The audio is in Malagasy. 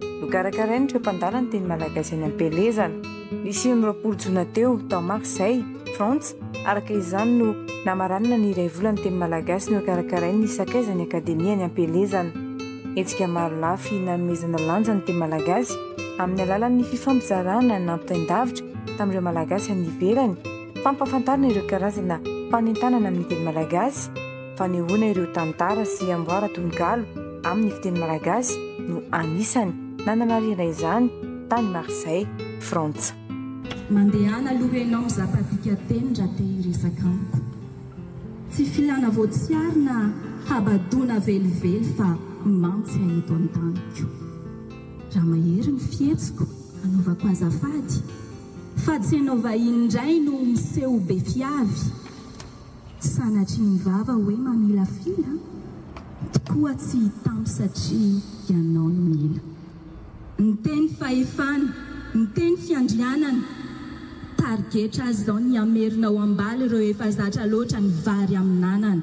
Nokarakarain'ireo mpandala ny teny malagasy any am-pielezana, ny sivy amby roapolo jona teo, tao Marseille, Frantsa. Araka izany no namaranina ny iray volan'ny teny malagasy nokarakarain'ny sakaizan'ny Akademia any am-pielezana. Hetsika maro lafy nanomezana lanja ny teny malagasy amin'ny alalan'ny fifampizarana nampitain-davitra tamin'ireo Malagasy any ivelany, fampahafantarana ireo karazana fanentanana amin'ny teny malagasy, Fanehoana ireo tantara sy amboara tononkalo amin'ny fiteny malagasy no anisany nanamarihana izany tany Marseille, Frantsa. Mandehana aloha ianao mizaka dikateny raha te hiresaka amiko. Tsy filana voatsiary na habadoana velively fa mantsy ahy eto an-taniko. Raha mahery ny fihetsiko, anaovako azafady, fa tsy ianao vahiny indray no miseho be fiavy. Tsy sanatry ny vava hoe mamilafila tokoa tsy hitam satria ianao no mila. Ny teny fahefana, ny teny fiandrianana, tarigetra azy izao ny hamerina ao am-bala ireo efa zatra loatra ny vary amin'anana.